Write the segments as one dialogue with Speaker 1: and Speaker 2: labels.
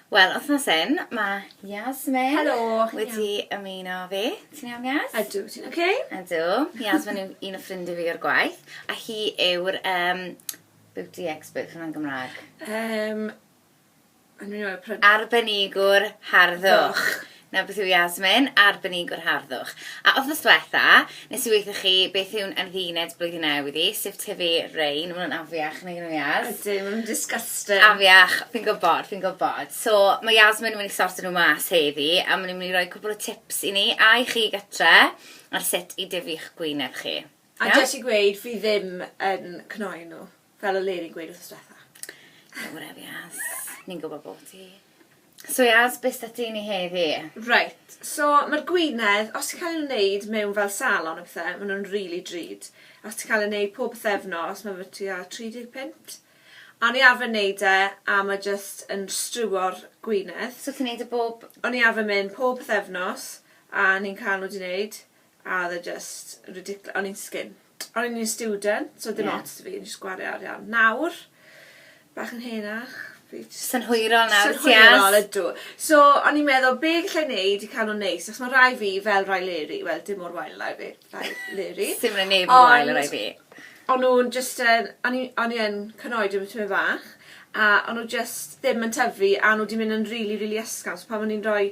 Speaker 1: Wel, wythnos hyn, mae Yasmin... Helo! ...wedi ymuno fi. Ti'n iawn, Yas? Ydw, ti'n oce? Okay? Ydw. Yasmin yw un o ffrindiau fi o'r gwaith, a hi yw'r um, beauty expert hwnna'n Gymraeg. Um, Arbenigwr harddwch. Na beth yw Yasmin, arbenigwr harddwch. A wthnos dwetha, nes i weithio chi beth yw'n andduned blwyddyn newydd i, sef tyfu rein, ma' nhw'n afiach nag 'yn nhw Yas. Ydyn, ma' nhw'n disgusting. Afiach, fi'n gwbod, fi'n gwbod. So, ma' Yasmin yn mynd i sorto nhw mas heddi, a ma' nhw'n mynd i roi cwpwl o tips i ni, a i chi gytre, ar sut i dyfu'ch gwyneb chi. A jyst i gweud, fi ddim yn cnoi nhw. Fel o le'n i'n gweud wrth stwetha. Don't worry Yaz, ni'n gwybod bo ti. So Yaz, be sy 'da ni heddi? Reit, so ma'r gwinedd, os ti'n cael ei wneud mewn fel salon a pethe, ma' nhw'n rili drud. Os ti'n cael ei wneud pob pythefnos, ma' fe tua 30 punt. O'n i arfer wneud e, a ma' jyst yn striwo'r gwinedd. So ti'n wneud e bob... O'n i arfer mynd pob pythefnos, a o'n i'n cael nhw 'di wneud. A oedd e jyst ridicl- o'n i'n sgin. O'n i'n un student so oedd dim ots 'da fi o'n i jyst gwario arian. Nawr bach yn henach fi jyst... Synhwyrol nawr ti as. Synhwyrol ydw. So o'n i'n meddwl be' gallai neud i ca'l nw'n neis achos ma' rai fi fel rai Leri wel dim mor wael â fi rai Leri. Sdim rai neb mor wael â rai fi. Ond o'n nw'n jyst yn o'n i o'n i yn cynoed efo tymed fach a o'n nw jyst ddim yn tyfu a o'n nw 'di myn' yn rili rili ysgafn so pan o'n i'n roi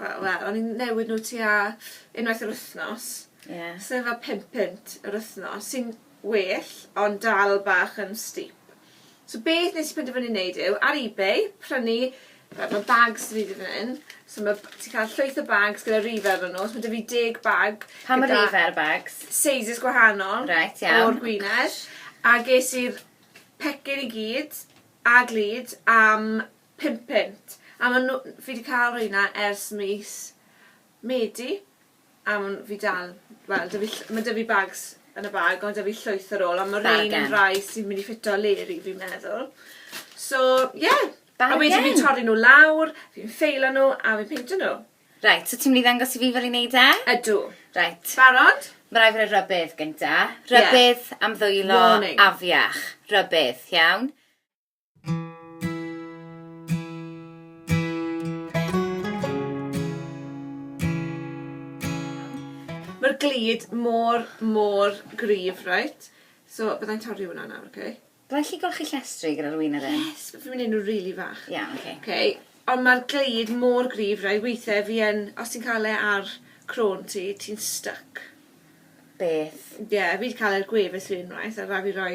Speaker 1: Wel wel o'n i'n newid n'w tua unwaith yr wthnos. Ie. So fel pum punt yr wthnos sy'n well ond dal bach yn steep. So beth nes i penderfynu neud yw ar ebay prynu fel ma' bags 'da fi fan 'yn so ma' b- ti ca'l llwyth o bags gyda rife arnyn n'w so ma' 'da fi deg bag gyda... Pam y rife ar y bags? Sizes gwahanol. Reit iawn. O'r gwinedd. A ges i'r pecyn i gyd a glud am Pum punt. A ma' nw- fi 'di ca'l reina ers mis Medi a ma' nw- fi dal wel 'dy fi ll- ma' 'dy fi bags yn y bag on' 'dy fi llwyth ar ôl on' ma' rein yn rai sy myn' i ffito Leri fi'n meddwl. So ie. Bargen! A wedyn fi'n torri nw lawr fi'n ffeilo nw a fi'n peintio nw. Reit so ti myn' i ddangos i fi fel i neud e? Ydw. Reit. Barod? Ma' rai' fi roi rybudd gynta. Ie. Rybudd am ddwylo... Warning. ...afiach. Rybudd. Iawn? Mae'r glud mor, mor gryf, reit. So, bydda i'n torri hwnna nawr, oce? Bydda i'n gallu golchi llestri gyda'r win yr hyn? Yes, fi'n mynd i wneud nhw rili fach. Iawn, oce. Oce, ond mae'r glud mor gryf, reit, weithiau fi yn, os ti'n cael e ar crôn ti, ti'n styc. Beth? Ie, fi 'di cael e ar gwefus fi unwaith, a rhaid fi roi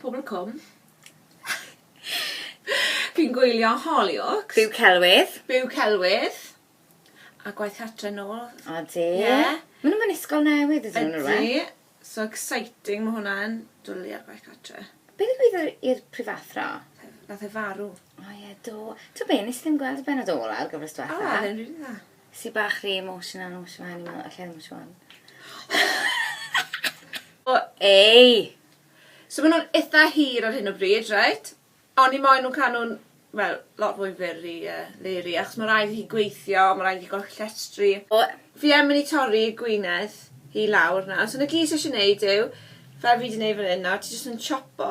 Speaker 1: Pobol y cwm. Fi'n gwylio Hollyoaks. Byw celwydd. Byw celwydd. A gwaith cartre nôl. Odi. Ie. Ma' nw mewn ysgol newydd ydyn nw rŵan. Ydi. So exciting ma' hwnna'n. Dwli ar gwaith cartre. Be' ddigwyddodd i'r prifathro? Nath e farw. O ie do. T'o' be' nes i ddim gweld y bennod ola o'r gyfres dwetha. O o'dd e'n rili dda. Sy bach rhy emotional yn nos yma o'n i'n meddwl alla i ddim swan. O ei! So ma' nw'n itha hir ar hyn o bryd reit? Oni moyn nhw ca'l nhw'n wel lot fwy fyr i yy Leri achos ma' raid i hi gweithio ma' raid i ga'l llestri. O! Fi yn myn' i torri gwinedd hi lawr nawr so na gyd sy isie neud yw fel fi 'di neud fan 'yn nawr ti jyst yn chopo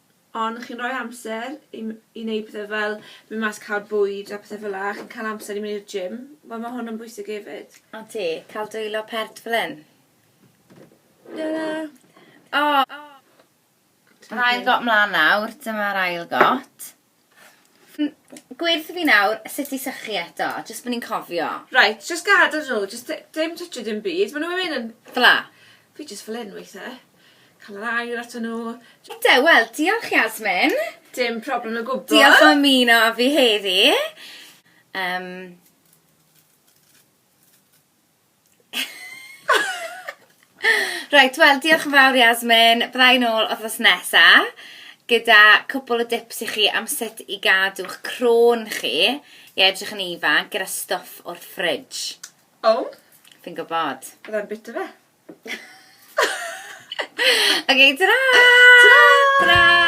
Speaker 1: ond chi'n rhoi amser i m- i neud pethe fel myn' mas ca'l bwyd a pethe fela chi'n ca'l amser i myn' i'r gym wel ma' hwn yn bwysig efyd. A ti? Ca'l dwylo pert fel 'yn? Helo. O! Yr ail got mlan nawr dyma'r ail got. Gwyrdd fi nawr sut i sychu eto jyst bo ni'n cofio. Reit jyst gadel nhw jyst ti- dim twtsio dim byd ma' nhw myn' yn... Ffela? Fi jyst fel 'yn weithe. Ca'l yr aer ato nhw. Ynde wel diolch Yasmin. Dim problem o gwbwl. Diolch am ymuno â fi heddi. Yym. Reit wel diolch yn fawr Yasmin. Bydda i'n ôl wthnos nesa gyda cwpwl o dips i chi am sut i gadw'ch crôn chi i edrych yn ifanc gyda stwff o'r fridge. O! Oh. Fi'n gwybod. Byddai'n bit o fe. okay, ta-ra! Ta-ra! Ta-ra!